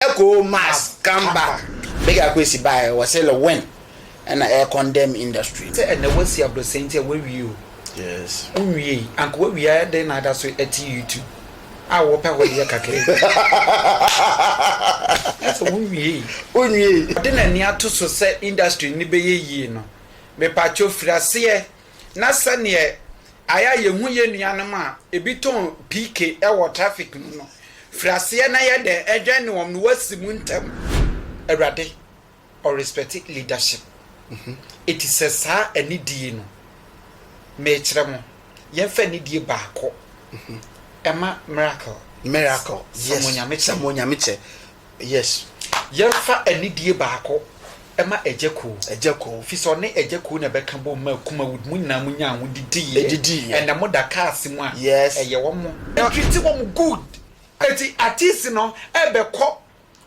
Echo must come back Big Akwesi baeɛ wɔ se le when ɛna ɛ condemn industry no. Sɛ ɛnɛ wasi abrosan nti a wawie o Yes. Wonwiei anka wawie a ɛdɛn na ada so te YouTube a wopɛ hɔ deɛ kakra bi na sɛ wonwiei. Wonwiei. Ɔde n'ani ato so sɛ industry no bɛyɛ yie no, mepatwo firi aseɛ na sɛdeɛ ayɛ a yɛhu yɛn nuanom a ebi tɔn PK wɔ traffic mu no, firi aseɛ na yɛ dɛn ɛdwɛn ne wɔn no wasi mu ntɛm. Awurade ɔ respect leadership. Eti sɛ saa anidie no, mekyerɛ mo, yɛnfa anidie baako ɛma miracle. Miracle, yes, sɛ mo Onyame kyɛ. Yes yɛnfa anidie baako ma Agya Koo. Agya Koo. Firi sɛ ɔne Agya Koo na ɛbɛka bom maa Kumawood mo nyinaa mo nyaa ho didiiɛ. Ɛdidiiɛ. Ɛnna mo da cars mu a. Yes. Ɛyɛ wɔn. Ɛ treat wɔn good. Ɛti artist no ɛbɛkɔ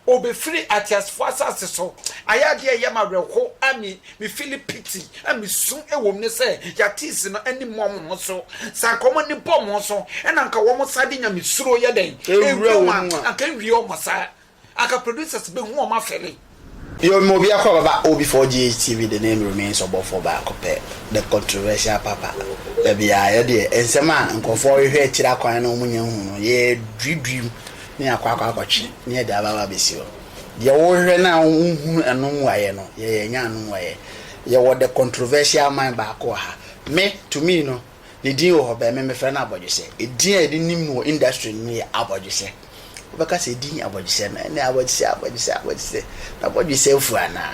ɔbɛfiri ateasefoɔ asase so ayɛ adeɛ a ɛyɛ me awerɛho a me. Me fili piti a me su ɛwɔ mu ne sɛ yatiisi no ɛni mo ɔmo ho so saa nka ɔmo ɛni bɔ ɔmo so ɛna nka ɔmo saa de nyame suro yɛ dɛn ɛwura ɔmo a anka ɛnwie ɔmo saa anka producers bɛ hu ɔmo afɛli. Yo me obi akɔ baba obi for GHTV the name remains ɔbɔfoɔ baako pɛ the controversial papa dabi aa yɛdeɛ nsɛm a nkorɔfoɔ rehwɛ akyiri akwan na ɔmo nya hu no yɛ duidui na yɛakɔ akɔ akɔtwe na yɛde aba aba abɛsi hɔ. Deɛ worehwɛ no a wonhunu ɛno mmuaeɛ no, yɛ yɛanya ano mmuaeɛ. Yɛwɔ the controversial man baako wɔ ha. Me, to me no, ne din wɔ hɔ bɛn, me mefrɛ no abɔdwesɛ. Edin a yɛde nim no wɔ industry no mu yɛ abɔdwesɛ. Wobɛka sɛ edin abɔdwesɛ no, ɛnneɛ abɔdwesɛ, abɔdwesɛ, abɔdwesɛ. N'abɔdwesɛ afu anaa?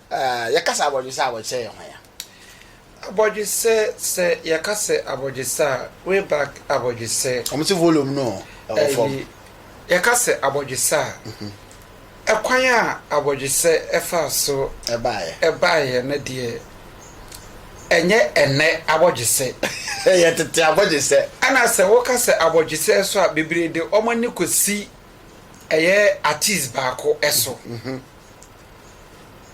Yɛkasa abɔdwesɛ a wɔkyerɛ yɛn hwan a? Abɔdwesɛ sɛ yɛka sɛ abɔdwesɛ a way back abɔdwesɛ. Wɔn se volume no ɛwɔ fam. Yɛka sɛ abɔdwesɛ a ɛkwan a abɔdwesɛ ɛfaa so ɛbaeɛ no deɛ ɛnyɛ ɛnɛ abɔdwesɛ. Ɛyɛ tete abɔdwesɛ. Ɛna sɛ woka sɛ abɔdwesɛ so a bebree de wɔn ani kɔsi ɛyɛ artist baako ɛso.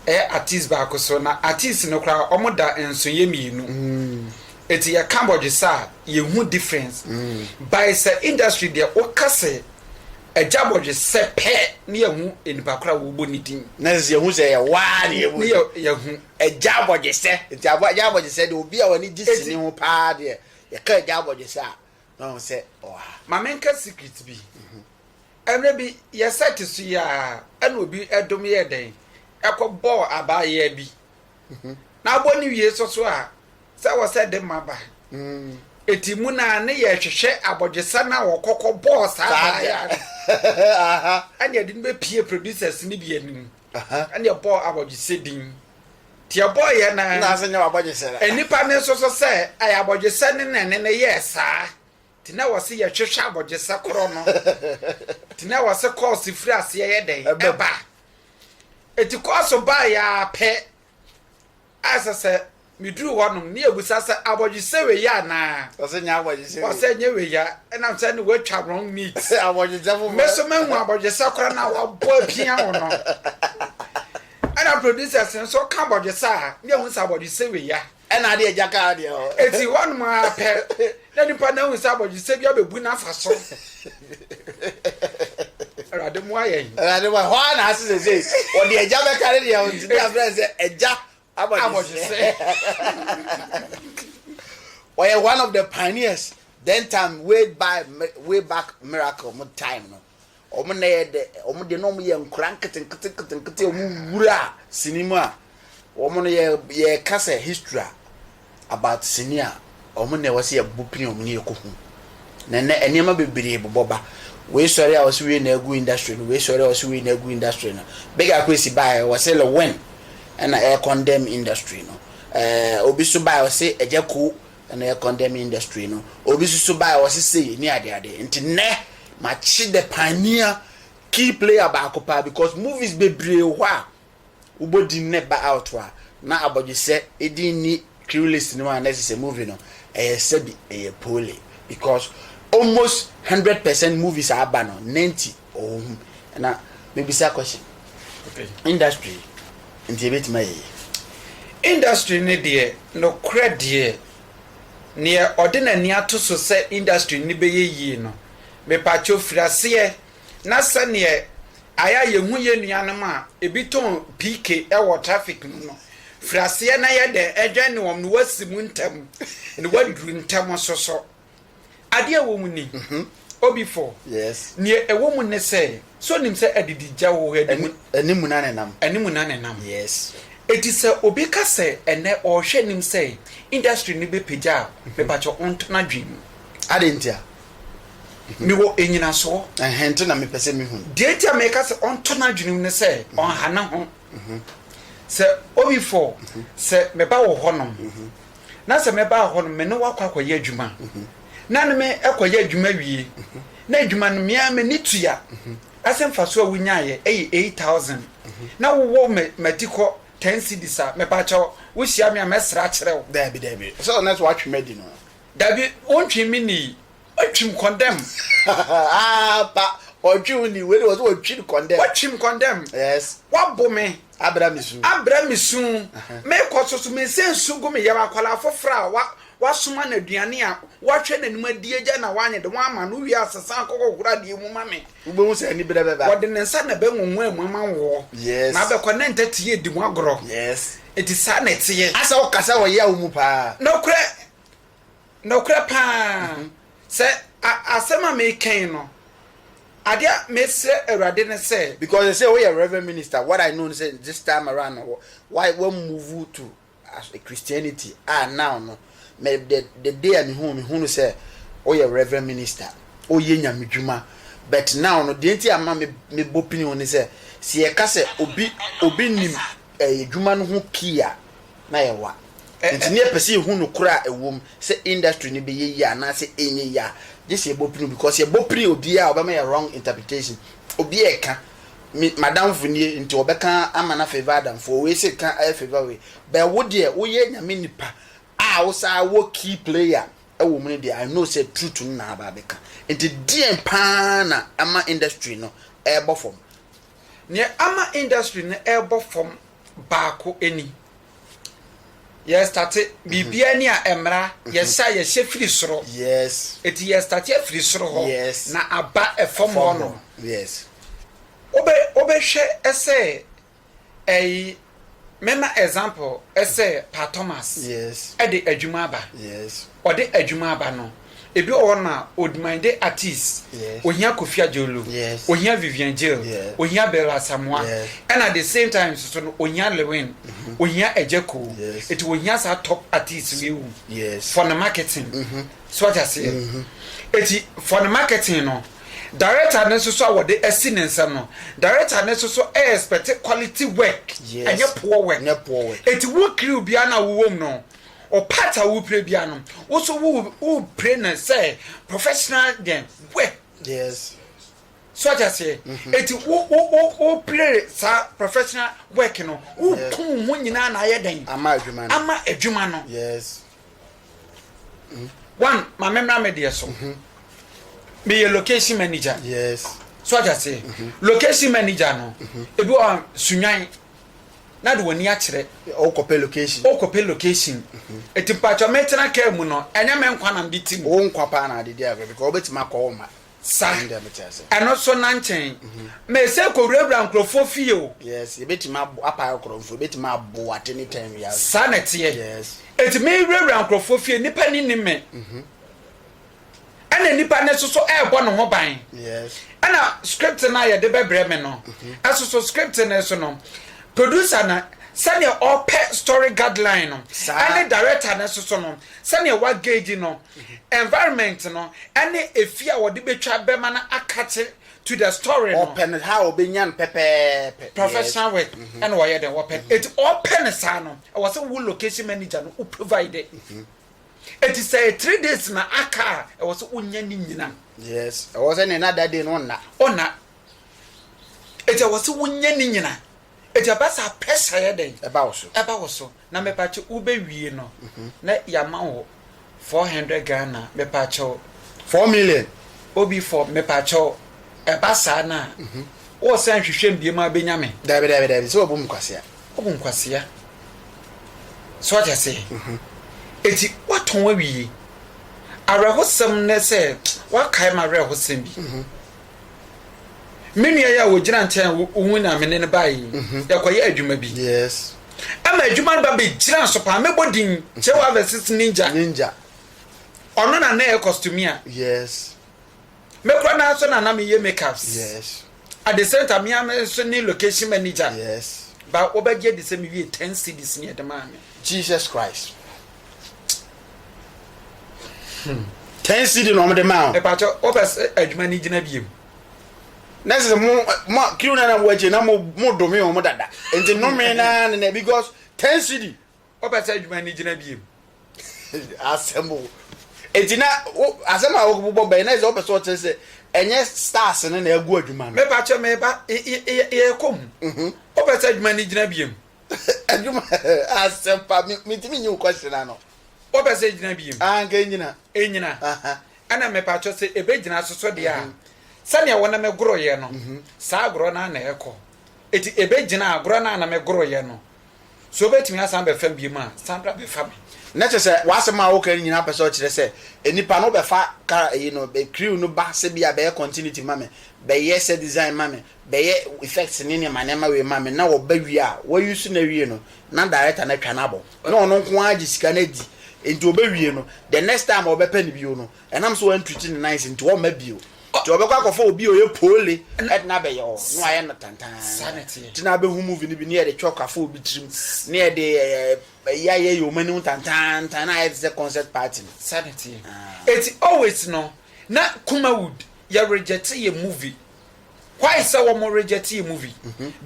ɛyɛ artist baako so na artist no koraa ɔmo da nso yɛ mmienu eti yɛ ka bɔdwesa a yɛ hu difference by sɛ industry deɛ woka sɛ ɛgya bɔdwesɛ pɛ ne yɛ hu nipa koraa wɔbɔ ne din na sɛ yɛ hu sɛ yɛ waa ne yɛ bɔ ne yɛ yɛ hu ɛgya bɔdwesɛ eti abɔ ɛgya bɔdwesɛ deɛ obi a wɔne gye Eti- sini ho paa deɛ yɛ ka ɛgya bɔdwesɛ a na ɔho sɛ ɔha. Mame nka secret bi Mmerɛ bi yɛ sɛ te so yi ara na obi dom yɛɛ dɛn? Ɛkɔbɔɔ abaayewa bi. Na abɔ no wie so so a, sɛ wɔ sɛ de ma ba. Eti mu na ne yɛ hwehwɛ abɔdwesɛ no a wɔkɔ kɔbɔɔ saa abaayewa no. Ɛna ɛde no bɛpie producers no bi anim. Ɛna ɛbɔɔ abɔdwesɛ din. Nti ɛbɔɔeɛ no ara, nnipa no nso so sɛ ɛyɛ abɔdwesɛ no na ɛne no yɛɛ saa. Te na wɔse yɛhwehwɛ abɔgyesɛ korɔ no, te na wɔse kɔɔse firi aseɛ yɛ dɛn ɛba. Eti kɔɔso baeɛ ara pɛ, ayɛ sɛ sɛ meduru hɔ nom ne yɛbusa sɛ abɔgyesɛ wei yɛ anaa? Wɔse nyɛ abɔgyesɛ wei. Wɔse nyɛ wei ya, ɛnam sɛ ne watwa wrong meat. Abɔgyesɛ foforɔ. Me so mahu abɔgyesɛ korɔ no a wabɔ apia ho no. Ɛna producers no so ka abɔgyesɛ a, ne yɛhu sɛ abɔgyesɛ wei ya. Ɛna deɛ agya kaa deɛ hɔ. Enti hɔnom ara pɛ na nipa no ahu sɛ abɔdwesɛ bi abɛbu n'afa so. Awurade mmoa yɛn. Awurade mmoa hɔ ara na ase sesei ɔde agya bɛka ne deɛ ɔntumi afrɛ sɛ agya abɔdwesɛ. Ɔyɛ one of the pioneers then time way by way back miracle mo time no. Wɔn nna yɛ dɛ, wɔn deɛ na wɔyɛ nkwadaa nketenketenketenkete a wɔwura sini mu a, wɔn no yɛ yɛka sɛ history a about sini a, wɔn na ɛwɔ sɛ yɛbobɔ pini wɔn na yɛkɔhu. Na nnɛ nneɛma bebree bobɔ ba. Wei sɔre a wɔse wei na agu industry no, wei sɔre a wɔse wei na agu industry no. Big Ako Asi baeɛ wɔse Lil Wayne na ɛrekɔndɛm industry no. Ɛɛ obi nso baeɛ wɔse Agya Koo Ɛno yɛ condemn industry no obi susu bae ɔse sei ne ade ade nti nnɛ makye the pioneer key player baako paa because movies bebree wɔ hɔ a wobɔ din na ɛba out a na abɔdwesɛ edin nni crew list no mu a na ɛsɛ sɛ movie no ɛyɛ sɛbi ɛyɛ poorly because almost hundred percent movies a aba no ninety Ɔwɔ ho na mebisa question. Industry nti ɛbɛtumi ayɛ yie. Industry no deɛ nokorɛ deɛ neɛ ɔde n'ani ato so sɛ industry no bɛyɛ yie no mepakyɛw firi aseɛ na sɛdeɛ ayɛ a yɛhu yɛn nuanom a ɛbi tɔn PK wɔ traffic mu no firi aseɛ na yɛ dɛn ɛdwɛn ne wɔn na wɔasi mu ntɛm na wɔaduru ntɛm nso so. Adeɛ a ɛwɔ mu ni, Obi fɔ. Yes. Neɛ ɛwɔ mu ne sɛ, so nim sɛ adidi gya wɔ hɔ adi mu. Ani mu na ne nam. Ani mu na ne nam. Yes. Eti sɛ obi ka sɛ ɛnɛ ɔrehwɛ nim sɛ industry no bɛ pagya a, me pakyɛ ɔntɔ no adwene mu. Adɛn ntia? Me wɔ enyinasoɔ. Ɛhɛn nti na me pɛ sɛ me hu. Deɛ nti a me ka sɛ ɔntɔ no adwene mu ne sɛ, ɔnha ne ho. Sɛ Obi fɔ, sɛ me ba wɔ hɔ nom, na sɛ mɛba hɔ no me ne wo akɔ akɔyɛ adwuma na ne me kɔyɛ adwuma wie na adwuma no me ara m'ani tua ase mfasoɔ a wonyaeɛ ɛyɛ eight thousand na wowɔ m'ati kɔ ten cedis a mepaakyɛ wo wohyia me a mɛsrɛ akyerɛ wo. Daabi daabi sɛ ɔnɛ sɛ watwe m'adi no. Daabi wontwe me nni watwim kɔndɛm. Aampa ɔtwe wo nni wei de wɔ sɛ watwim kɔndɛm. Watwim kɔndɛm. Yes. Wabo me. Abra me su. Abra me su. Mekɔ so so mensɛ nsu gu me yam. Akwadaa foforɔ a wa wasoma no aduane a wahwɛ n'anim adi agya na wanyɛ de wama no wie asɛ san kɔkɔhoro adeɛ mu ma me. Wobɛhu sɛ aniberɛ bɛba. Wɔde ne nsa na ɛbɛnwonwaa mu ama wo. Yes. Na abɛkɔ na ntɛte yɛ di ho agorɔ. Yes. Enti saa na ɛteɛ. Asɛ wokasa wɔ yaw mu paa. Nokorɛ. Nokorɛ paa, sɛ a asɛm a mereka yi no, adeɛ a mesrɛ Awurade ne sɛ. Because they say woyɛ Reverend Minister, what I know ne sɛ this time around no wo wa wa move to as a Christianity a now no me the the day a me hu wo me hu no sɛ woyɛ Reverend Minister, woyɛ Nyame dwuma but now no deɛ nti a ma me me bɔ pini wo ne sɛ sɛ yɛka sɛ obi obi nim ɛɛ dwuma no ho pii a. na yɛwa. Enti na yɛpɛ sɛ yɛhu nokorɛ a ɛwom sɛ industry no bɛyɛ yie anaasɛ ɛnyɛ yie a, gye sɛ yɛbɔ pini. Because yɛbɔ pini a, obiara a ɔbɛma yɛ wrong interpretation. Obi reka, me, m'adamfo nie, nti ɔbɛka ama no afavour adamfoɔ, wei se ka afavour wei. But wo deɛ, woyɛ Nyame nipa a wosan wɔ key player wɔ mu no deɛ, I know sɛ truth no na aba abɛka. Enti deɛn pa ara na ama industry no ɛrebɔ fam? Nea ama industry no ɛrebɔ fam baako ni. Yɛ starte biribiara ni a ɛmmra, yɛhyɛ a yɛhyɛ firi soro. Eti yɛ starte afiri soro hɔ na aba fam hɔ nom. Wobɛ wobɛhwɛ sɛ ɛyi mɛma example sɛ Pa Thomas de adwuma aba. Ɔde adwuma aba no. Ebi wɔ hɔ na Odumande Atis, ohia Kofi Adjorloo, ohia Vivian Jill, ohia Bella Asamoah, ɛna the same time nso so no ohia Lewin, ohia Agya Koo, eti ohia saa top artists wei wom for ne marketing. So wate aseɛ? Eti for ne marketing no, director no nso so a wɔde asi ne nsam no, director no nso so ɛyɛ expect quality work, ɛnyɛ poor work. Eti wo crew biara no a wowɔ mu no, Ɔpart a wopire bia no wo so wo wo pire no sɛ professional den wɛ. Yes. So ɔte aseɛ mm-hmm. eti wo wo wo wo pire saa professional work no wo kun wo ho nyinaa na ayɛ dɛn. Ama adwuma no. Ama adwuma no. Yes. Mm. One ma me mmra me deɛ so. Mm-hmm. Meyɛ location manager. Yes. So ɔte aseɛ mm-hmm. location manager no ebi wɔ sunyan. na de w'ani akyerɛ. Wokɔpɛ location. Wokɔpɛ location. Eti mpatsɔ metena kaa mu no, ɛnyɛ me nkwa na mede ti mu. Wo nkwa paa na ade di agorɔ because wobɛtumi akɔ wo mma. Sa. Ɛno deɛ mete ase. Ɛno so na nkyɛn. Mese kɔwurawura nkurɔfoɔ fie o. Yes, yɛbɛtumi abo, apa akorɔmfoɔ, yɛbɛtumi abo at any time wiase. Saa na ɛteɛ. Yes. Eti mewurawura nkurɔfoɔ fie, nnipa ani nnim me. ɛna nipa no soso ɛrebɔ ne ho ban ɛna script no a yɛde bɛbrɛ me no ɛsoso script no so no producer no sɛdeɛ ɔpɛ story guideline no ɛne director no soso no sɛdeɛ wagage no environment no ɛne efi a wɔde bɛtwa bɛma no akakye to the story no ɔpɛ no ha ɔbɛnya no pɛpɛɛpɛ professional work ɛna ɔyɛ dɛ ɔpɛ ɛti ɔpɛ no saa no ɛwɔ sɛ wo location manager no wo provide Eti sɛ three days na aka a ɛwɔ sɛ onya ne nyina. Yes ɛwɔ sɛ ne nada de no nna. Ɔnna. Eti ɛwɔ sɛ wonya ne nyina. Eti ɛba saa pressure yɛ dɛn. Ɛba wo so. Ɛba wo so na mepaakyɛ wo bɛ wie no na ya ma wo four hundred Ghana mepaakyɛ wo. Four million. Obi four mepaakyɛ wo ɛba saa no a wo san hwehwɛ mu biemu a bɛ nya me. Dabi dabi dabi sɛ wabu me kwasea. Wabu me kwasea. so ate aseɛ eti watɔn awie awerɛhosɛm ne sɛ wakae ma awerɛhosɛm bi me nua yi a wɔgyina nkyɛn wohu na mene no bae yi yɛkɔyɛ adwuma bi ɛma adwuma no ba bɛgyina so paa mɛbɔ din kyɛ wɔ avɛsis ninja ɔno na na ɛyɛ kɔstomia yes Me kura naa nso na na me yɛ make ups yes at the same time me ara me nso ne location manager yes ba wo bɛ gye di sɛ me wie ten cds ne ɛde maa me jesus christ hmm. ten cd na wɔn de maa o. ɛpàtɛ o pɛ sɛ adwuma ni gyina biem. na sɛ mo mo kiri na na mo akyi na mo mo dome wɔn dada nti nome na na because ten cd. Ɔpɛ sɛ adwuma no gyina biom. Asɛm o. Eti na wo asɛm a wobobɔ bɛn na ɛsɛ ɔpɛ sɛ ɔkyerɛ sɛ ɛnyɛ stars no na ɛgu adwuma no. Mepa kyɛ me ba yɛkɔ mu. Ɔpɛ sɛ adwuma no gyina biom. Adwuma asɛm pa mentumi nyi wo question ano. Ɔpɛ sɛ ɛgyina biom. Aa nka ɛnyina. Ɛnyina. Ɛna mepa kyɛ sɛ ɛbɛgyina so so deɛ a sɛdeɛ wo ne me goroyɛ no saa agorɔ no a na ɛkɔ. Eti ɛbɛgyina agorɔ no a na me goroyɛ no So obetumi asan bɛfa me bio mu a? San bra bɛfa me. Na kyerɛ sɛ w'asɛm a woka no nyinaa pɛ sɛ ɔkyerɛ sɛ nnipa no bɛfa ka ayi no crew no ba sɛ bi a bɛyɛ continuity ma me, bɛyɛ set design ma me, bɛyɛ effects ne nneɛma nneɛma wei ma me na wɔba wie a wɔ use no awie no na director no atwa no abɔ na ɔno nko ara gye sika no adi nti ɔbɛwie no the next time a ɔbɛpɛ no bio no Ɛnam sɛ wantwitwi ne nan ase nti wɔmma bio. Nti wɔbɛkɔ akɔfa obi a ɔyɛ poole de no abɛyɛ hɔ na wayɛ no tantann. Nti na abɛhu movie no bi na yɛde chalk afɔ obi tirim na yɛde ayi ayɛyɛ wɔn anim tantantan na ayɛ te sɛ concert party no. Saa na ɛteɛ. Nti always no na Kumawood yɛregyɛte yɛn movie why sɛ wɔn rejectee movie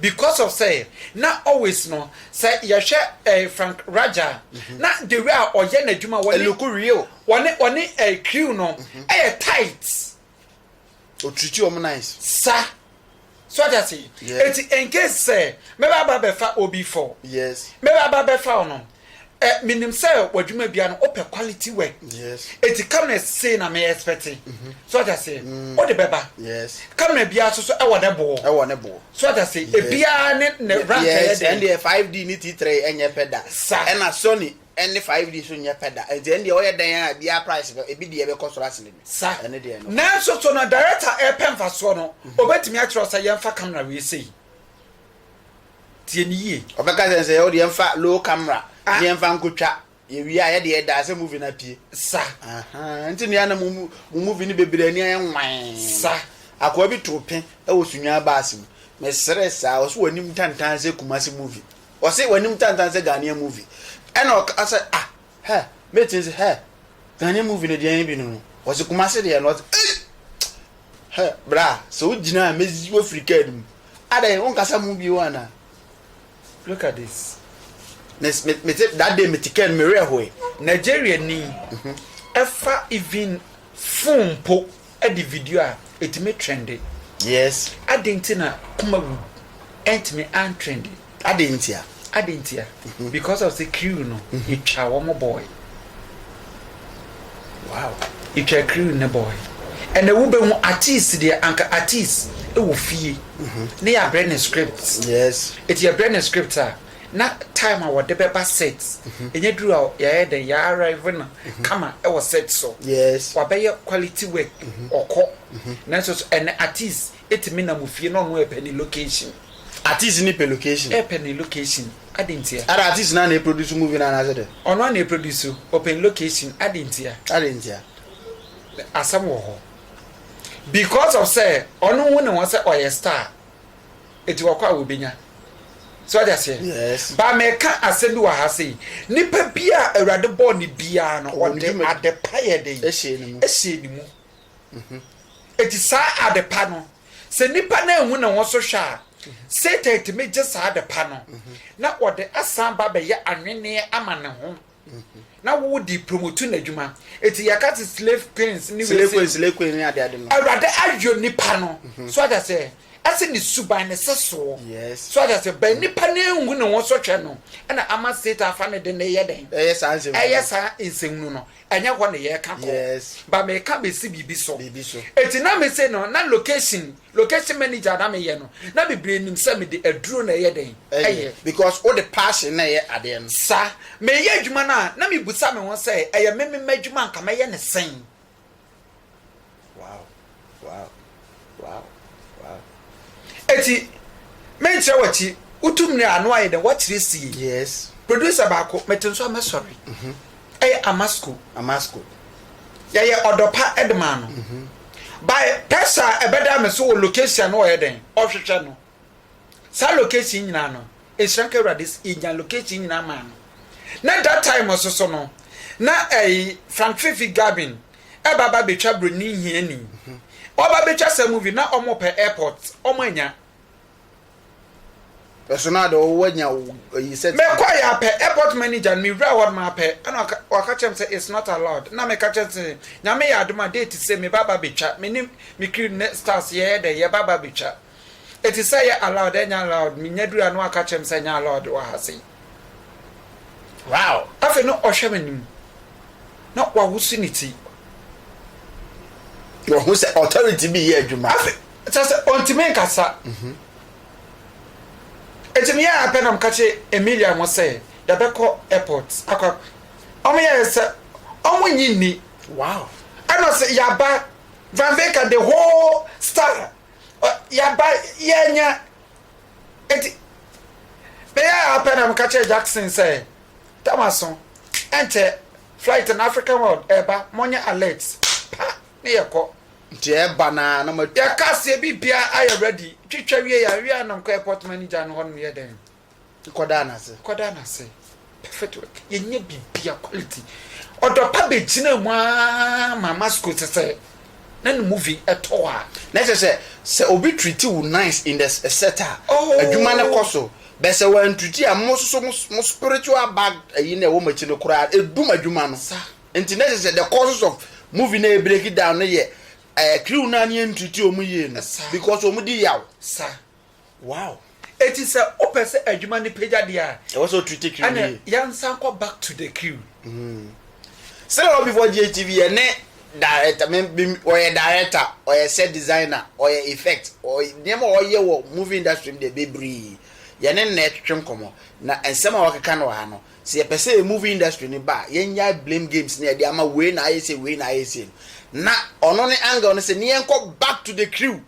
because of sɛ na always no sɛ yɛhwɛ ɛɛ Frank Raja a na the way a ɔyɛ n'adwuma wɔne Eluku real. wɔne wɔne ɛɛ crew no ɛyɛ tight O treat you wɔn nice. sa so ɔde ase Yeah. eti in case sɛ mɛba aba bɛfa obi fɔ Yes. mɛba aba bɛfa ɔno Eh menim sɛ w'adwuma bia no wopɛ quality work eti camera sei na me expect so ɔte aseɛ wode bɛba camera biara so so ɛwɔ ne boɔ ɛwɔ ne boɔ so ɔte aseɛ ebiara ne ne rank ɛyɛ deɛ ɛndeɛ 5D ne T3 ɛnyɛ pɛ da sa ɛna Sony ɛne 5D so nyɛ pɛ da eti ɛndeɛ ɔyɛ dɛn a biara price bɛ ebi deɛ bɛkɔ soro asene bi sa ɛne deɛ no nanso so no director ɛpɛ nfasoɔ no obetumi akyerɛ sɛ yɛnfa camera wei sei Tie no yie. Ɔbɛka sɛ nsɛ yɛ wode yɛmfa low camera ah. ne yɛmfa nkotwa yɛwie a yɛde yɛdaa sɛ movie no apue sa nti nea na mo movie no bebree ani ayɛ nwan sa akoa bi too pe wɔ sunyaa baase mu mesrɛ saa ɔse w'anim tantan sɛ kumase movie ɔse w'anim tantan sɛ ghanea movie ɛna ɔka sɛ ah Hɛ me tee se hɛ Ghanaian movie no deɛn bi nom no ɔse Kumasi deɛ no ɔse ei hɛ bra sɛ wo gyina a mezi wo afiri kaa no mu adɛn wo nkasa mu bio anaa look at this me me me te that day me te kaa no me werɛ hoe. Nigeria ni ɛfa even phone mpo. de video a etumi trɛnde. Yes. Adɛn nti na kuma wu ɛntumi antrɛnde? Adɛn ntia? Adɛn ntia? Mhm. Because of sɛ kiriw no, mhm. etwa wɔn bɔɔe. Wow. Etwa kiriw ne bɔɔe. Ɛnna wobɛhu artist deɛ anka artist wɔ fie mhm. ne yɛabrɛ ne script. Yes. Eti yɛbrɛ ne script a. Na time a wɔde bɛba set ɛnyɛ duru a yɛayɛ dɛn yɛ arrive no kama wɔ set so wabɛyɛ quality work ɔkɔ nanso so ɛnɛ artist ɛtumi nam ofie na ɔno ɛpɛ ne location. Artist no pɛ location. Ɛpɛ ne location adɛn ntia. Adɛn artist no a na ɛproduce movie no anaasɛ dɛn. Ɔno a na ɛproduce o ɔpɛ ne location adɛn ntia. Adɛn ntia. Asɛm wɔ hɔ because of sɛ ɔno hu ne ho sɛ ɔyɛ star Enti wɔkɔ a wɔbɛnya. So wate aseɛ? Yes. Ba meka asɛm bi wɔ ha sei. Nipa bi a Awurade bɔɔ ne biara no, ɔde ade pa yɛ dɛn? Ɛhyɛ ne mu. Mhm. Enti saa ade pa no, sɛ nipa no anhu ne ho so hwɛ a, mhm. Satan tumi gye saa ade pa no, mhm. na ɔde asan ba bɛyɛ anwenneɛ ama ne ho. na wo di promotu na adwuma eti yɛka te slave queens ne slave queen slave queen ne ade ade no awurade ayɔ nipa no mhm. so ata sɛ ɛsɛ ne suban ne sɛ soɔ yes so ata sɛ bɛn nipa ne nhu ne ho so hwɛ no ɛna ama state afa ne de ne yɛ dɛn ɛyɛ saa nsɛm ɛyɛ saa nsɛm nu no ɛnyɛ hɔ ne yɛ ka kɔ yes ba mɛ ka bɛ si biribi so biribi so eti na mɛ se no na location Location manager na me yɛ no na bebree nim sɛ me de aduro na ɛyɛ dɛn ɛyɛ. Because wo de passion na ɛyɛ adeɛ no. Sa me yɛ adwuma no a na me busa me ho sɛ ɛyɛ me me mma adwuma a nka mɛ yɛ no sɛn. Wow wow wow wow. Eti me nkyerɛ wakyi wo tum ne a na wayɛ dɛn wakyerɛ sie. Yes. Producer baako me te nso a mɛ sɔre. Ɛyɛ Amasko. Amasko. Yɛyɛ ɔdɔ pa de maa no. By pɛsa a ɛbɛdaa me so wɔ location no ɔyɛ dɛn? Ɔhwehwɛ no. Saa location nyinaa no, nhyira nka Awurade sɛ yɛnya location nyinaa maa no. Na that time nso so no, na ɛyi Frank Fifi Gavin ɛba ba bɛtwa Buroni Hiani. Ɔba bɛtwa saa movie na wɔpɛ airport, wɔanya. Ɛso na de ɔwɔ nya ɛyi sɛ. Me kɔ ya pɛ airport manager no me wura hɔ nom apɛ ɛna ɔka kyerɛ me sɛ it's not allowed na me ka kyerɛ sɛ nyame yɛ adom a date sɛ me ba ba betwa me ne me crew ne stars yɛ yɛ dɛ yɛ ba ba betwa ɛti sɛ yɛ allowed ɛnyɛ allowed me nya duru a na waka kyerɛ me sɛ ɛnyɛ allowed wɔ ha sei. Wow! Afei na ɔhwɛ m'anim, na wawosi ne ti. Wahu sɛ authority bi yɛ adwuma. Afei, kyerɛ sɛ ɔntumi nkasa. Mhm. Eti meyɛ ara pɛ na meka kyerɛ Emilia mo sɛ yɛbɛkɔ airport akɔ. Wɔn yɛ sɛ wɔn nyi nni. Wow! Ɛna ɔsɛ yaba Van Veka the whole star. Yaba yɛnya Enti, meyɛɛ ara pɛ na meka kyerɛɛ Jackson sɛ, Thomas ho, ɛnkyɛ, flight no, African World, ɛreba, monyɛ alert. Pa! Ne yɛkɔ. Nti ɛreba no ara na matu. Yɛka aseɛ, biribiara ayɛ ready. Twitwa wieeɛ a, yɛn anom kɔɔ airport manager no hɔnom yɛɛ dɛn? Kɔdaa no ase. Kɔdaa no ase. Perfect work. Yɛnyɛ biribiara quality. Ɔdɔ pa bɛgyinaa mu ara ma Masco te sɛ na ne movie tɔ a. Na ɛkyerɛ sɛ, sɛ obi treat wo nice in the set a, adwuma no kɔ so. But sɛ wantreat a, mo nso mo spiritual back ayi no a ɛwɔ mo akyi no koraa, ɛdum adwuma no. Nti na ɛkyerɛ sɛ the causes of movie no a ɛbreak down no yɛ crew no a na yɛntreat wɔn yie no because wɔn di yaw. Wow! Eti sɛ wopɛ sɛ adwuma no pagya deɛ a. Ɛwɔ sɛ ɔtreat crew no yie. Ɛna yɛnsan kɔ back to the crew. Mm. Sɛ wɔ before GHTV yɛ ne director me me ɔyɛ director ɔyɛ set designer ɔyɛ effect ɔyɛ nneɛma ɔyɛ wɔ movie industry mu deɛ bebree yɛ ne na ɛtwetwe nkɔmɔ na nsɛm a wɔkeka no wɔ ha no sɛ yɛpɛ sɛ yɛ movie industry no ba a yɛnyae blame games ne yɛde ama wei na ayɛ sei wei na ayɛ sei no na ɔno ne angle no sɛ ne yɛnkɔ back to the crew.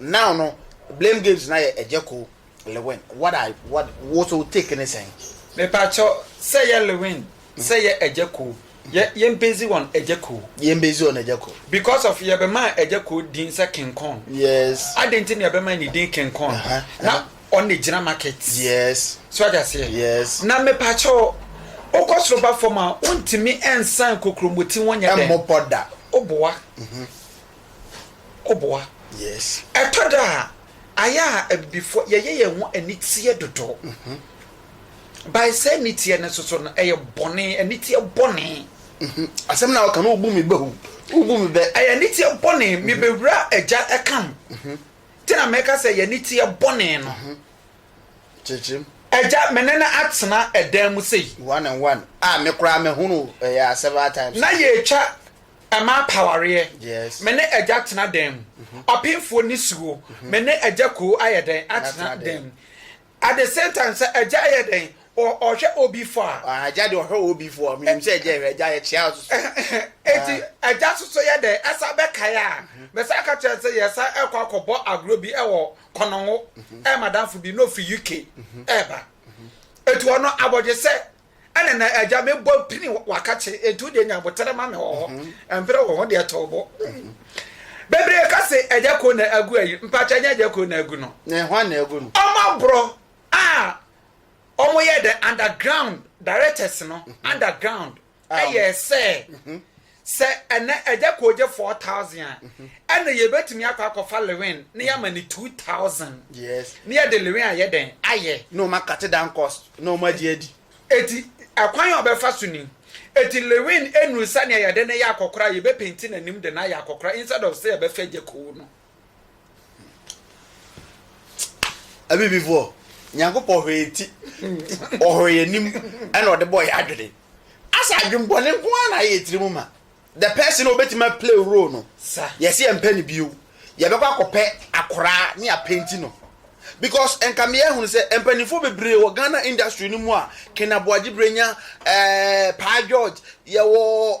Now no blame games no ayɛ Ɛgyɛko Lewin what are what wo so wo take ne sɛn? Mepakyɛw, sɛ yɛ Lewin, sɛ yɛ Ɛgyɛko, yɛ yɛn base on Ɛgyɛko. Yɛn base on Ɛgyɛko. Because of yɛbɛmaa Ɛgyɛko din sɛ King Kong. Yes. Adɛn nti na yɛbɛmaa ne din King Kong? Uh -huh. Na uh -huh. ɔn na gyina market. Yes. So ɔde aseɛ. Yes. Na mepakyɛw, wokɔ soro ba fam a, wontumi nsan kokromoti ho nyɛ dɛn. Ɛmmɔ pɔ da. Woboa. Mm -hmm. ɔboa. Yes. Ɛtɔ da a, ayɛ a Abibifoɔ, yɛyɛ yɛn ho aniteɛ dodo. By saa aniteɛ no nso so no, ɛyɛ bɔne, aniteɛ bɔne. Asɛm no a woka no, wobu me bɛ o, wobu me bɛ. Ɛyɛ aniteɛ bɔne, me bɛwura agya ɛka m. Nti na mɛka sɛ ɛyɛ aniteɛ bɔne no. Kyerɛkyerɛm. Agya, me ne no atena ɛdan mu sei. One and one. A me koraa mɛhunu ɛyɛ several times. Na yɛtwa Ɛmaa pawareɛ. Me ne agya tena dan mu. Ɔpemfoɔ nisuo. Me ne agya koo ayɛ dɛn atena dan mu. At the same time sɛ agya yɛ dɛn ɔhwɛ obi fɔ a. Agya deɛ ɔhwɛ obi fɔ a menim sɛ agya hwɛ agya yɛ kyea soso. Eti agya soso yɛ dɛn ɛsa bɛkae a mɛsa aka kyerɛ sɛ yɛsa ɛkɔ akɔbɔ agorɔ bi ɛwɔ kɔnɔngo ɛyɛ madamfo bi na ɔfiri UK ɛɛba. Eti ɔno abɔdwesɛ. ɛne na agya mebɔ pini waka kye enti wodeɛ nya botere ma me wɔ hɔ mhm. mprɛ wɔ ho deɛ tɔw bɔ mhm. bebree ka se agya ko na agu ayi mpakyɛ nyɛ agya ko na agu no ɔma borɔ a ɔmo yɛ dɛ underground directors no mhm. underground ɛyɛ sɛ Sɛ ɛnnɛ Agya Koo gye four thousand a, mhm. ɛna yɛbɛtumi akɔ akɔfa lewin na yɛama ne two thousand na yɛde lewin ayɛ dɛn ayɛ. na ɔma kate dan cost na ɔma agye adi. eti ɛkwan a ɔbɛfa so ni eti lewin enuru sɛnea yɛde ne yɛ akɔkora yɛbɛpenti n'anim de n'ayɛ akɔkora instead of sɛ yɛbɛfa Agya Koo no. abibifoɔ nyankopɔn hwɛ yɛn ti ɔhwɛ yɛn anim ɛna ɔde bɔ yɛn adwene asa adwembɔne nko ara na ayɛ yɛn tirim ma the person a obetumi aplay role no yɛsi yɛn mpɛ ne bio yɛbɛkɔ akɔpɛ akoraa ne apenti no because nka mmea ehunu sɛ mpanimfoɔ bebree wɔ ghana industry no mu a kena boagye brenya ɛɛ eh, paa george yɛwɔ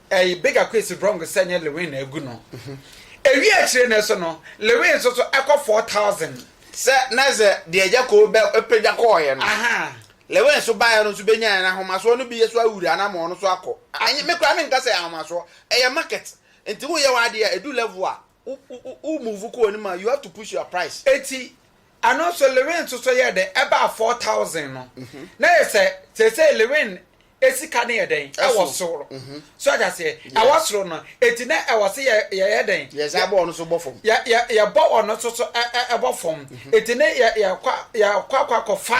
Ɛy big akwesi wrong sɛ nyɛ lewin na agu no ɛwie akyire no so no lewin nso so ɛkɔ 4000. Sɛ na sɛ deɛ agya koo bɛ pagya kɔɔeɛ no Ahaa. lewin nso baeɛ no nso bɛnyaeɛ no ahomasoɔ no bi so awura anamɔn no so akɔ ɛnyɛ me koraa menka sɛ ɛyɛ ahomasoɔ ɛyɛ market nti wo yɛ w'adeɛ a ɛdu level a wo wo wo move kɔ anim a you have to push your price. Eti ɛno nso Lewin nso so yɛɛ dɛn ɛbaa four thousand no na yɛ sɛ seesei Lewin esika no yɛ dɛn ɛwɔ Ɛso. soro Mhm. so ate aseɛ Yeah. ɛwɔ soro no eti na ɛwɔ se yɛ yɛyɛ dɛn Yɛ saa bɔ ɔno so bɔ fam. yɛ yɛ yɛbɔ ɔno nso so ɛ ɛ ɛbɔ fam eti ne yɛ yɛkɔ a- yɛkɔ akɔ akɔfa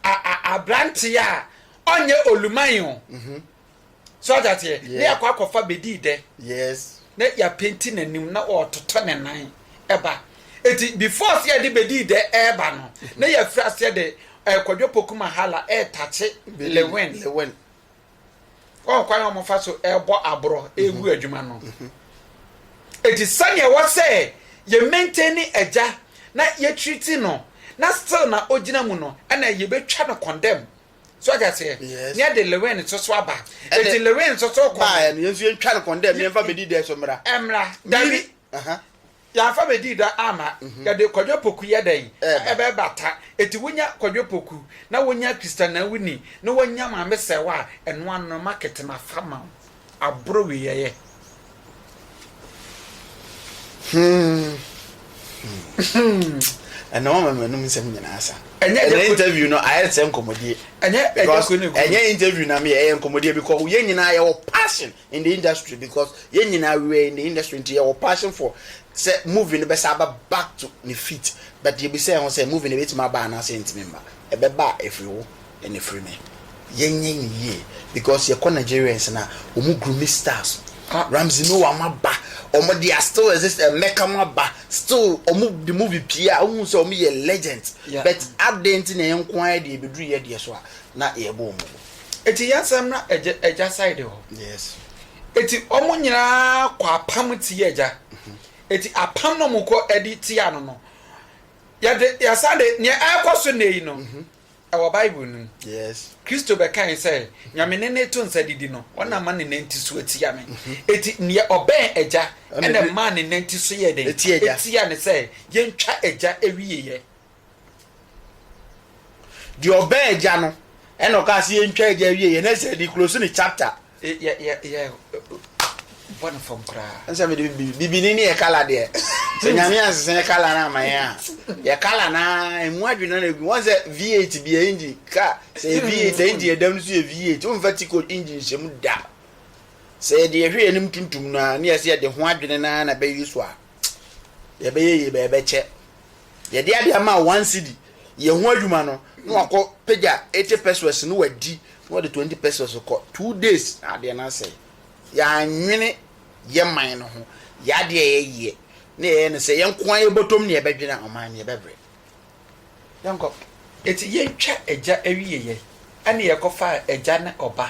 a a abranteɛ a ɔnyɛ oluman o so ate aseɛ ne yɛakɔ akɔfa bɛdii dɛ na yɛapenti n'anim na ɔretotɔ ne nan ɛba eti before sɛ yɛde bɛdii dɛ ɛreba no na yɛafiri aseɛ de ɛkɔdwo poku mahala ɛretakye lewen wɔn kwan a wɔfa so ɛrebɔ aborɔ ɛregu mhm. adwuma no mhm. eti sɛnea ɛwɔ sɛ yɛ maintain ne agya na yɛtiri ti no na still na ogyina mu no ɛna yɛbɛtwa no condemn so ɔte aseɛ Yes. nyɛ de lewin nso so aba Ɛnde- eti lewin nso so kɔ Baa no yɛn nso yɛntwa no kɔn dɛ mmeɛmfa bɛdi dɛ so mmra. ɛmra dabi Miri- Aha. yɛafa bɛdii dɔ ama yɛde kwadwo poku yɛ dɛn Ɛɛba. ɛbɛbata eti wonya kwadwo poku na wonya kristanawuni na wonya maame sɛwa a ɛno ano no market mafa ma wo aboro wieɛ. ɛnna wɔn mɛmɛ num nsɛm nyinaa sa. ɛnyɛ ɛnyɛ interview no ayɛ sɛ nkɔmɔdie. ɛnyɛ ɛnyɛ kunu kunu ɛnyɛ interview na mi yɛ ɛyɛ nkɔmɔdie because yɛn nyinaa yɛ wɔ passion in the industry because yɛn nyinaa we were in the industry nti yɛ wɔ passion for sɛ movie no bɛsa aba back to ne feet but yɛ bi sɛ ɛho sɛ movie no ebetumi aba anaasɛ ntumi mba ɛbɛba a efiri wo ne firi me. Yɛnyɛ no yie because yɛkɔ Nigerians no a wɔn grooming styles Ramsey Nouah mo aba wɔn de a still exist Emeka mo aba still wɔn de mo bi pie a wohu sɛ wɔn yɛ legends but adɛn nti na yɛn nko ara deɛ ɛbɛduru yɛ deɛ so a na yɛbɔ wɔn gu. Eti yɛnsan mmra agya agya side hɔ. Yes. Eti wɔn nyinaa kɔ apam tia agya. Eti apam na wɔn kɔ ɛde tia no no yɛde yɛsan de nea ɛrekɔ so nnɛ yi no Wɔ Bible no mu, Kristo bɛkae sɛ, Nyame ne ne to nsa didi no, wɔn na ama ne nan ti so atia me. Eti mhm. nea ɔbɛn agya na ɛmaa ne nan ti so yɛ den etia ne sɛ yɛntwa agya awieɛ. Deɛ ɔbɛn agya no ɛna ɔka sɛ yɛntwa agya awieɛ na ɛsɛ de close ne chapter. Yɛ yɛ yɛ bɔ no fam koraa. Nsa mi de bi bibini ne yɛ kala deɛ. Sɛ nyame ansesa yɛ kala na ama yɛn a. Yɛ kala na emu adwene na egu. Wɔn sɛ V8 bia engine ka sɛ yɛ V8 engine yɛ dam no so yɛ V8. Wɔn fa tiko engine hyɛ mu da. Sɛ yɛ de yɛ hwɛ yɛ nim tuntum na ne yɛ sɛ yɛ de ho adwene na na bɛyɛ so a. Yɛ bɛyɛ yie bɛ yɛ bɛkyɛ. Yɛde ade ama a one cedi yɛ ho adwuma no na wakɔ pagya eighty pesewas na wadi na ɔde twenty pesewas kɔ two days na adeɛ no asɛe. Yɛannwene yɛ man no ho, yɛ adeɛ a yɛyɛ na yɛyɛ no sɛ yɛn nko ara yɛ bɔtɔm na yɛbɛdwene a ɔman no yɛbɛbrɛ. Yɛnkɔ. Enti yɛntwa agya awie yɛ ɛna yɛkɔfa agya ne ɔba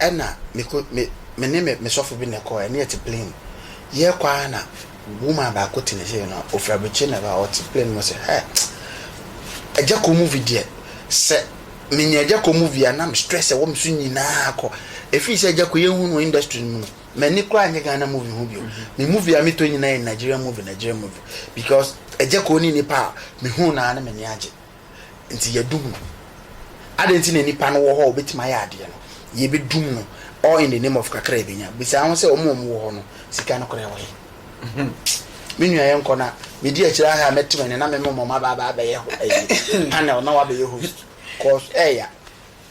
ɛna meko me me ne me sɔfo bi na ɛkɔɔ ɛne ɛte plane mu yɛɛkɔ ara na woman baako te ne sei no ofiri abirikyire na ɛba ɔte plane mu sɛ hɛ ɛgya kɔ movie deɛ sɛ menya ɛgya kɔ movie a na me stress ɛwɔ me so nyinaa akɔ efiri sɛ ɛgya kɔ yɛn hu no industry no mu no m'ani koraa nyɛ Ghana movie ho bio me movie a metɔ nyinaa yɛ Nigerian movie Nigerian movie because ɛgya kɔ ne nipa a me hu no ara na m'ani agye. Nti yɛdum no. Adɛn nti na nnipa no wɔ hɔ a wɔbɛtumi ayɛ adeɛ no? Yɛbɛdum no all in the name of kakra a yɛbɛnya. Bisa ho sɛ, wɔn a wɔwɔ hɔ no, sika no koraa wɔ he? Me nua yɛnkɔ na medi akyire aha a mɛte m'ani na me mema wɔn aba aba abɛyɛ panel na woabɛyɛ host cos ɛɛya.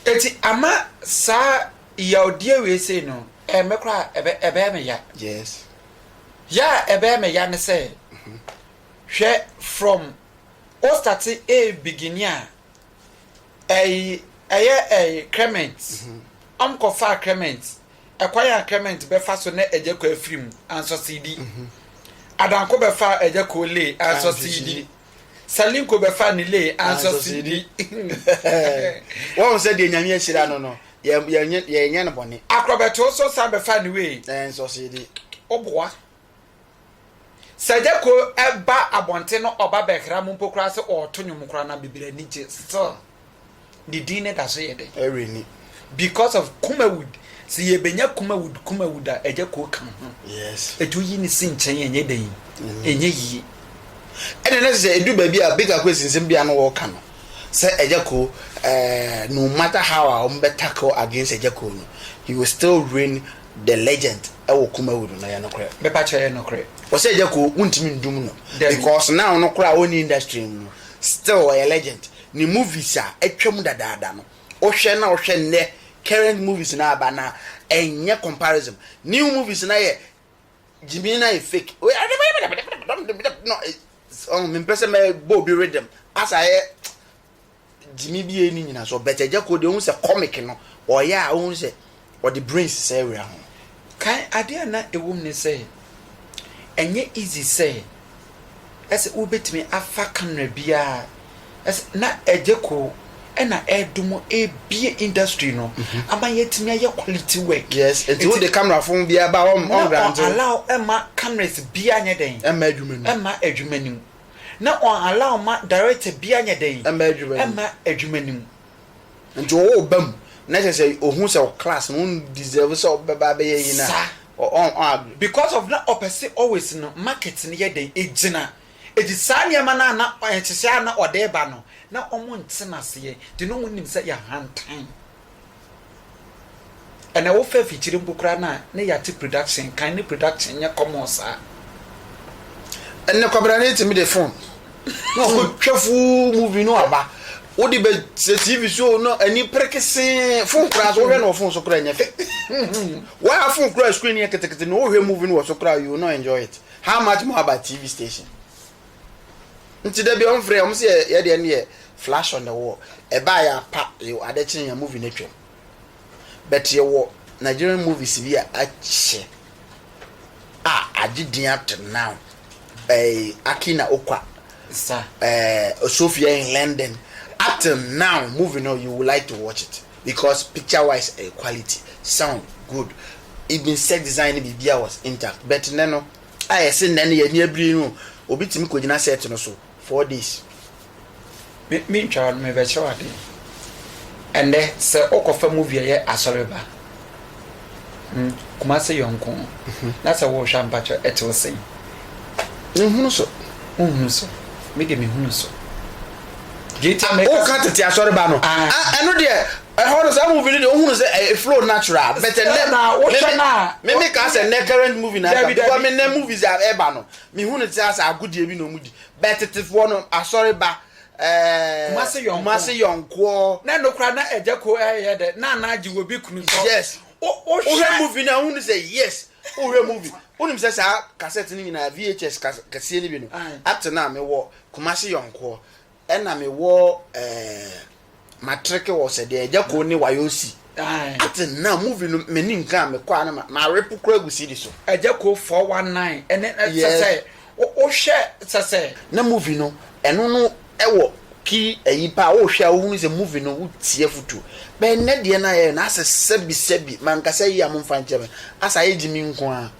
Nti ama saa yawdeɛ wei sei no ɛmmɛ koraa a, ɛbɛ, ɛbɛyɛ me ya. Yes. Ya a ɛbɛyɛ me ya ne sɛ, hwɛ from. O starte ei begynne a ei ɛyɛ ei Clement ɔm kɔ faa Clement ɛkwan a Clement bɛ fa so nɛ ɛgya kɔ afiri mu ansɔ siidi Adanko bɛ faa ɛgya koo lee ansɔ siidi Salinko bɛ faa ne lee ansɔ siidi Wahu sɛ deɛ Nyame ahyira no no yɛnyɛ no bɔne Akorɔ bɛ too so san bɛ faa ne wee ansɔ siidi Oboa Sɛ Gyako ba abɔnten no ɔba bɛhera mo mpo koraa sɛ ɔɔto nwom koraa no a bebree ani gye still ne din no da so yɛ dɛn? Ɛre ni. Because of Kumawood sɛ yɛbɛnya Kumawood Kumawood a Gyako ka ho. Yes. Ɛti woyi ne si nkyɛn ɛnyɛ dɛn? Ɛnyɛ yie. Ɛne ne sɛ ɛdu baabi a Big Akwesi nsɛm biara no wɔɔka no sɛ Gyako ɛɛ no matter how a wɔn bɛ tackle against Gyako no he will still reign The legend wɔ Kumawood no yɛ nokorɛ? Me pa kyɛ yɛ nokorɛ. Ɔsɛ agya ko wontimi ndum no because now no koraa ɔnni industry no mu no still ɔyɛ legend ne movies a atwam dadaada no wohwɛ na wohwɛ nnɛ current movies no aba no a ɛnyɛ comparison new movies no ayɛ gyimii no ayɛ fake ɔho mempɛ sɛ mɛbɔ obi rhythm asa ayɛ gyimi bi a ɛnni nyinasoɔ but agya kuo deɛ wohu sɛ comic no ɔyɛ a wohu sɛ ɔde brains sɛ awura ho. Kan adeɛ a na ɛwɔ mu ne sɛ ɛnyɛ easy sɛ ɛsɛ wobɛtumi afa camera biara ɛsɛ na agya kuo ɛna ɛredom ɛrebie industry no ama yɛatumi ayɛ quality work. Yes, ɛti wode camera fo biara ba ɔm ɔm grante. Na ɔn allow ɛma cameras biara nyɛ dɛn ɛma adwuma no mu. na ɔn allow ma director biaa nyɛ dɛn ɛmma adwuma no mu. Nti wo wo ba mu na kyerɛ sɛ ohu sɛ wo class no wo deserve sɛ ɔbɛba abɛyɛ yi na ɔn agree. Because of na ɔpɛ se always no market no yɛ dɛn ɛgyina ɛti saa nneɛma no a na ɛhyehyɛ a na ɔde ba no na ɔmo nte no aseɛ nti na ɔmo nim sɛ yɛ ahantan. Ɛna ɛwɔ fɛ afikyiri mpo koraa no a ne yɛate production kan ne production nyɛ common saa. Ɛnɛ kwabena no etumi de phone na ɔkɔ twɛ full movie no aba wode bɛ sɛ tv so no ani perekesee phone koraa so wohwɛ no wɔ phone so koraa nyɛ fɛ waa phone koraa screen yɛ ketekete na wohwɛ movie no wɔ so koraa you no enjoy it how much more about tv station Nti da bi ɔmo frɛ ɔmo sɛ yɛ deɛ no yɛ flash on the wall. Ɛbaa yɛ apa yo ade kye yɛn movie no atwam. But yɛ wɔ Nigerian movies bi a akyɛ a agye din up to now. Ɛɛ Akina Okwa. Sa. Ɛɛ Sophia in London. Up to now movie no you would like to watch it because picture wise ɛyɛ quality, sound good, even set design ne biribiara was intact. But nnɛ no. a yɛse nnɛ no yɛn ani abiri no obi tumi kɔgyina set no so four days. Me me ntwa no mebɛkyerɛ wo adeɛ ɛnnɛ sɛ wokɔfa movie ɛyɛ asɔre ba hmm, Kumase yɔnko mhm. na sɛ wohwɛ ampakyɛ ɛte wo sɛn nhunu so wohunu so mede mehunu so woka tete asɔre ba no ah. ah, ɛno deɛ Ɛhɔ no saa movie no deɛ wohunu sɛ ɛyɛ flow natural but ɛnɛ Sɛ na wohwɛ no a, me me kaa sɛ nnɛ current movie na Dabi, ɛka because dabi. me nnɛ movies a ɛba no mehu no te asɛ agodeɛ bi na ɔmo di but tetefoɔ no asɔre ba ɛɛɛ Kumasi yɔnkoɔ. Kumasi yɔnkoɔ Na ɛno koraa na agya ko ɛyɛ dɛ na ana agye wɔ bi kunu sɔ yes wo wo wohwɛ hwɛ movie no a wohunu sɛ yes wohwɛ movie wonim sɛ saa cassette no nyinaa VHS kas- kɛseɛ no bi no Aye. up to now mewɔ Kumasi yɔnkoɔ Ɛna me wɔ ɛɛ matreke wɔ sɛ deɛ ɛgya koo ne wayɔ si. Ate na movie no mɛ ni nka a me kɔ a na ma ma repo kura gu sidi so. Ɛgya koo four one nine ɛne sɛ sɛ o o hwɛ sɛ sɛ. Na movie no ɛno no ɛwɔ ki ɛyi paa o hwɛ a o hunu sɛ movie no o ti afutuo bɛ nnɛ deɛ na yɛ na asɛ sɛbi sɛbi ma nka sɛ yia mo nfa nkyɛ me asɛ ayɛ gyimi nko a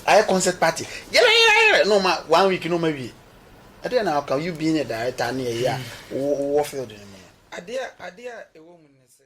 ayɛ concert party yɛrɛ yɛrɛ yɛrɛ na ɔma one week na ɔma wie. Ɛdeɛ na ɔka you being a director ne ɛyɛ a wo wowɔ field no mu no. Adeɛ a ɛwɔ mu ne sɛ.